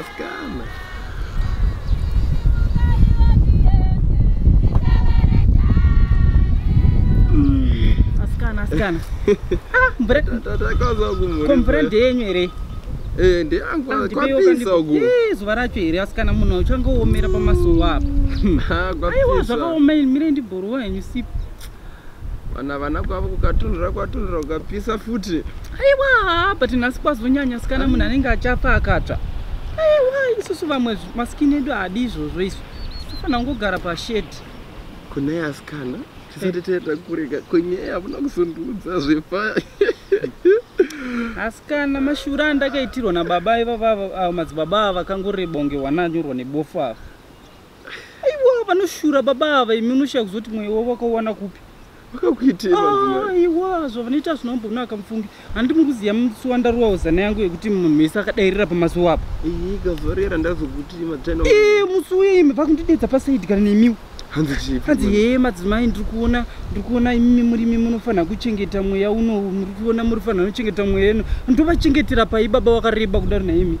Askana. Askana, askana. Ah, mvura Tatakaza kumuri. ko mvura ndeyenyu here? Eh, ndeyangu Ah, ndipeiwo kwapisa kandipo- uku. Eh, zuva racho here askana munhu uchangoomera pamasowa apa. Ah, Aiwa kwapisa. zvakaoma ini mire ndibhoruwa henyu sipo. vana vana kwavo kukatunhura kwatunhura kukapisa futi aiwa but nhasi kwazonyanya sikana munhu anenge achafa akatsva aiwa isusu vamwe masikini edu haadi izvozvo izvo tofanira kungogara pashedi kune asikana tisati taenda kurega kwenyaya havuna kuzondiudza zvepaya asikana mashura andakaitirwa nababa ivavavo madzibaba ava vakangorebongewa nanyorwa nebofu ava aiwa vanoshura baba ava imi unoshaya kuzoti mweya wavo wakauwana kupi vakakuitei ah, aiwa zvavanoita zvinombonaka mufungi handi muri kuziva musuwa ndaruwawo zana yangu yekuti munhu wese akadairira pamazuva apa ikazorera ndazokuti matena eh, musi uye imi vakundidedza pasaidi kana nemiwo hanzi hee madzimai ndiri kuona ndiri kuona imimi murimi munofanira kuchengeta mweya uno muri kuona muri fanira kuchengeta mweya ino ndovachengetera pai baba wakareba kudaro naimi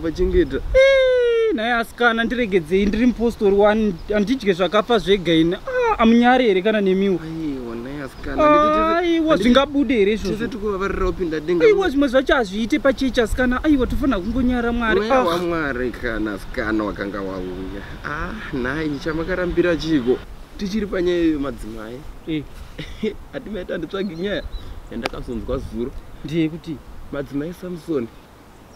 vachengeta eh, naye asikana ndiregedzei ndiri mupostori wani handidye zvakafa zvega ini ah, amunyari here kana nemiwo aiwa zvingabude here izvozvoaiwa zvimwe zvacho hazviite pachechi asikana aiwa tofanira kungonyara mwarimwari ah. kana asikana wakanga wauya ah, nhai chamakarambira chiiko tichiri panyaya iyo madzimai eh. hatimaita nditsvagi nyaya yandakazonzwa zuro ndiyekuti madzimai samsoni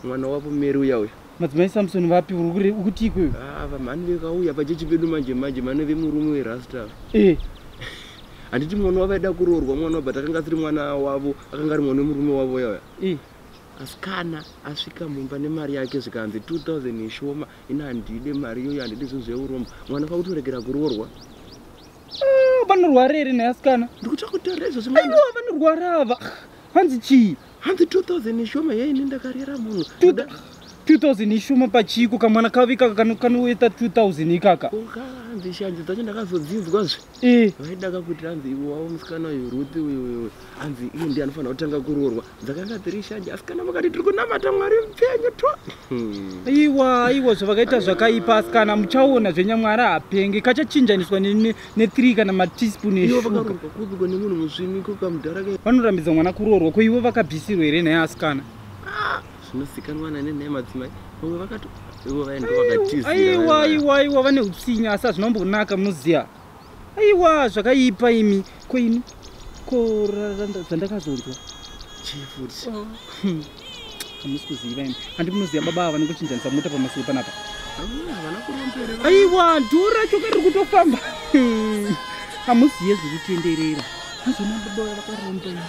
mwana wavo meri uya uya madzimai samson vapi uri kuti ikweyo ah, vamhani vekauya pachechi pedu manje manje mane vemurume werasta eh. handiti mwana wavo aida kuroorwa mwana wabva takanga asiri mwana wavo akanga ari mwana wemurume wavo yauya eh. asi kana asvika mumba nemari yake zvikanzi 2000 yeshoma ini handide mari iyoyo handide zvinhu zveurombo mwana kwakutoregera kuroorwa ah, vanorwara here neasikana ndikutokutorezvo zviaiwa vanorwara ava hanzi chii hanzi 2000 ishoma yei ini ndakarera munhu 2000 ishoma pachiiko kamwana kavi ikaka kanoita 2000 ikaka hanzi shanje dzacho ndakazodzinzwa zve eh. vaida kakuti hanzi iwe wavo musikana uyu ruti uyuuyu hanzi iye ndi anofanira kutanga kuroorwa dzakanga dziri shanje asikana vakati tiri kunamata mwari mupfenyu to hmm. iwa iwa zvavakaita zvakaipa asikana muchaona zvenyamwari hapenge kachachinjaniswa nethree kana mateaspoon eshugavanotambidza mwana kuroorwa ko ivo vakabvisirwa here nhaya asikana ah, zvinozikanwa nane nhaya madzimai vamwe vakato ivo vaendo vakatizira aiwa aiwa aiwa vane utsinye asi hazvina kumbonaka munoziva aiwa zvakaipa imi ko ini ko zvandakazonzwa chii futi oh. hmm. hamusi kuziva imi handi munoziva baba ava vanenge uchinjanisa mota pamasoro panapa aiwa dhuu racho kari kutofamba hamuzive zviri kutenderera azvona baba vaya vakaromba imi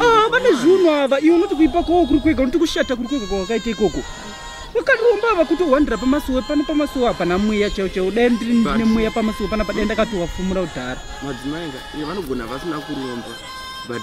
Ah, vane zvunhu ava iwe unoti kuipa kwawo kuri kwega unoti kushata kuri kwega kwawakaita ikoko wakaromba ava kutohwandira pamasuwe pano pamasuwe hapana mweya chaiwo chaiwo dai ndiri ndine mweya pamasuwe pana padai ndakatowafumura kudhara madzimai nga vanogona vasina kuromba but